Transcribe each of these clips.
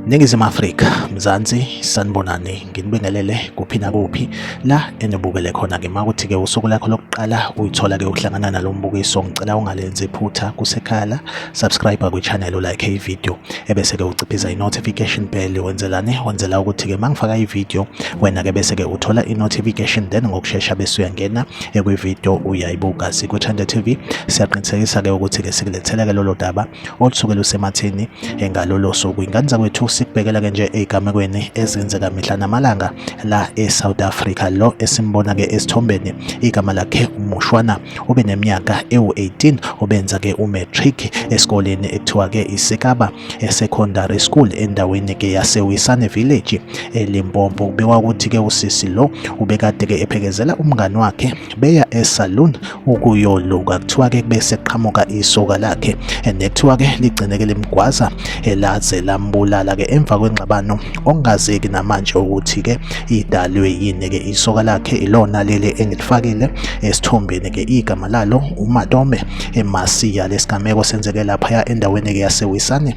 Ningizimu Afrika, Mzansi, sanibonani, nginibingelele kuphi nakuphi la enibukele khona ke makuthi ke usuku lakho lokuqala uyithola ke ukuhlangana nalombukiso ngicela ungalenzi iphutha kusekhala subscribe kwi channel like i video ebese ke uciphiza i-notification bell wenzelani wenzela ukuthi ke mangifaka i-video wena ke bese ke uthola i-notification then ngokushesha bese uyangena ekwi-video uyayibuka sikwe-Chanda TV siyaqinisekisa ke ukuthi ke sikulethela ke lolo daba olusuke lusemathini ngalolo suku ingane zakwethu sikubhekela ke nje ezigamekweni ezenzeka mihla namalanga la e-South Africa lo esimbona ke esithombeni igama lakhe umushwana ube neminyaka ewu-18 obenza ke umatric esikoleni ekuthiwa ke iSekaba Secondary School endaweni ke yaseWisane Village eLimpopo kubikwa ukuthi ke usisi lo ubekade ke ephekezela umngani wakhe beya esalon ukuyoluka kuthiwa ke bese qhamuka isoka lakhe nekuthiwa ke ligcine ke limgwaza elaze lambulala ke emva kwengxabano okungazeki namanje ukuthi-ke idalwe yini-ke isoka lakhe ilona leli engilifakile esithombeni-ke igama lalo umatome emasiya lesigameko senzeke laphaya endaweni-ke yasewisane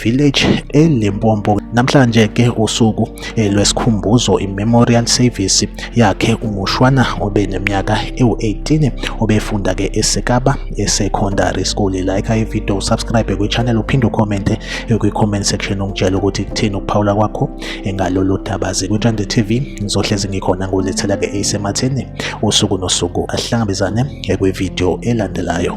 village elimpompo namhlanje-ke usuku eh, lwesikhumbuzo i-memorial service yakhe umushwana obe neminyaka ewu-18 obefunda-ke esekaba esecondary school like ivideo usubscribe kwi-channel uphinde ucommente kwi-comment section ungitshela ukuthi kuthini ukuphawula kwakho ngalolu daba zikwithande tv ngizohlezi ngikhona ngulethela-ke eyisematheni usuku nosuku asihlangabezane kwividiyo elandelayo